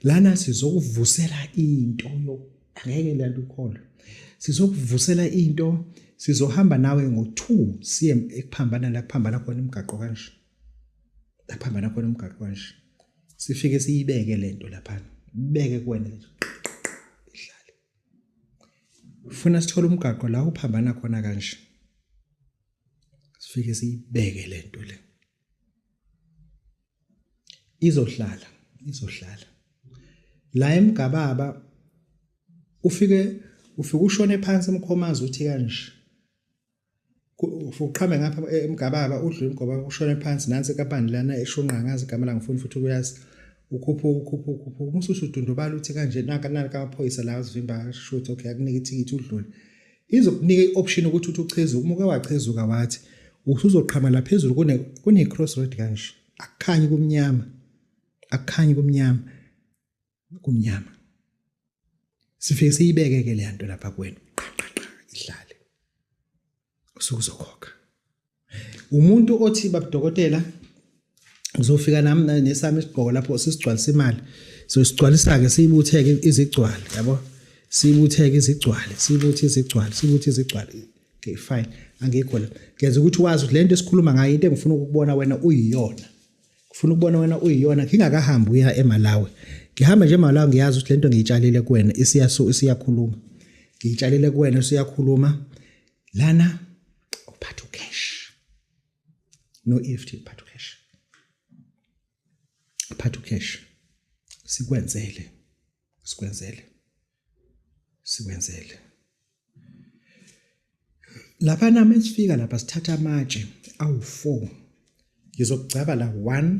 lana sizokuvusela into angeke lento ukholwe sizokuvusela into sizohamba nawe ngo2 siye ekuphambana la kuphambana khona umgaqo kanje la kuphambana khona umgaqo kanje sifike siyibeke lento lapha beke kuwena ihlale ufuna sithole umgaqo la uphambana khona kanje sifike siyibeke lento le izohlala izohlala la emgababa ufike ufike ushone phansi emkhomazi uthi kanje uqhame ngapha emgababa udlule emgababa ushone phansi nansi kapani lana eshunqa ngazi igama la ngifuni futhi ukuyazi ukhupha ukhupha ukhupha umususu udundubala uthi kanje naka naka amaphoyisa la azivimba shothi okay akunika ithikithi udlule Izokunika i-option ukuthi uthi uchezuka uma uke wachezuka wathi usuzoqhamela phezulu kune-cross road kanje akukhanyi kumnyama akukhanyi kumnyama kumnyama sifike siyibeke-ke le nto lapha kwenu qaqaqa ihlale usuke uzokhokha umuntu othi babudokotela ngizofika nami nesami isigqoko lapho sisigcwalisa imali so sigcwalisa-ke siyibutheke izigcwale yabo siyibutheke izigcwale siyibuthi izigcwale siyibuthi izigcwale okay fine angikho la ngenza ukuthi wazi ukuthi le nto esikhuluma ngayo into engifuna ukubona wena uyiyona ngifuna ukubona wena uyiyona ngingakahambi uya emalawi ngihamba nje emalawi ngiyazi ukuthi le nto ngiyitshalile kuwena isiyakhuluma ngiyitshalile kuwena usuyakhuluma lana uphatha ucash no EFT uphatha ucash uphatha ucash sikwenzele sikwenzele sikwenzele lapha nami sifika lapha sithatha amatshe awu4 ngizokugcaba la 1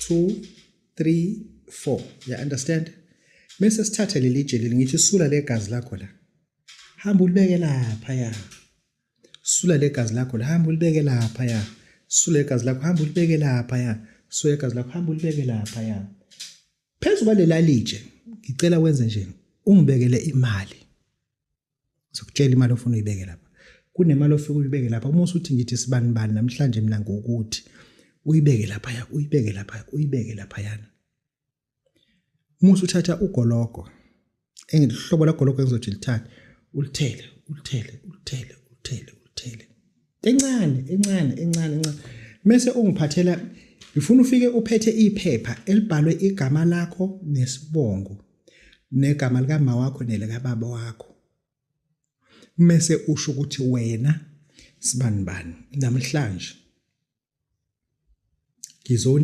2 3 4 ya understand mese sithathe leli jeli ngithi sula legazi lakho la hamba ulibeke lapha ya sula legazi lakho hamba ulibeke lapha ya sula igazi lakho hamba ulibeke lapha ya sula igazi lakho hamba ulibeke lapha ya phezu kwalelalitshe ngicela wenze nje ungibekele imali ngizokutshela imali ofuna uyibeke lapha kunemali ofika uyibeke lapha uma usuthi ngithi sibani bani namhlanje mina ngokuthi uyibeke laphaya uyibeke laphaya uyibeke laphayana Musa uthatha ugologo engihlobo lagologo engizothi lithanda ulithele ulithele ulithele ulithele ulithele encane encane encane encane mese ungiphathela ngifuna ufike uphethe iphepha elibhalwe igama lakho nesibongo negama likama wakho nelekababa wakho mese usho ukuthi wena sibani bani namhlanje ngizoni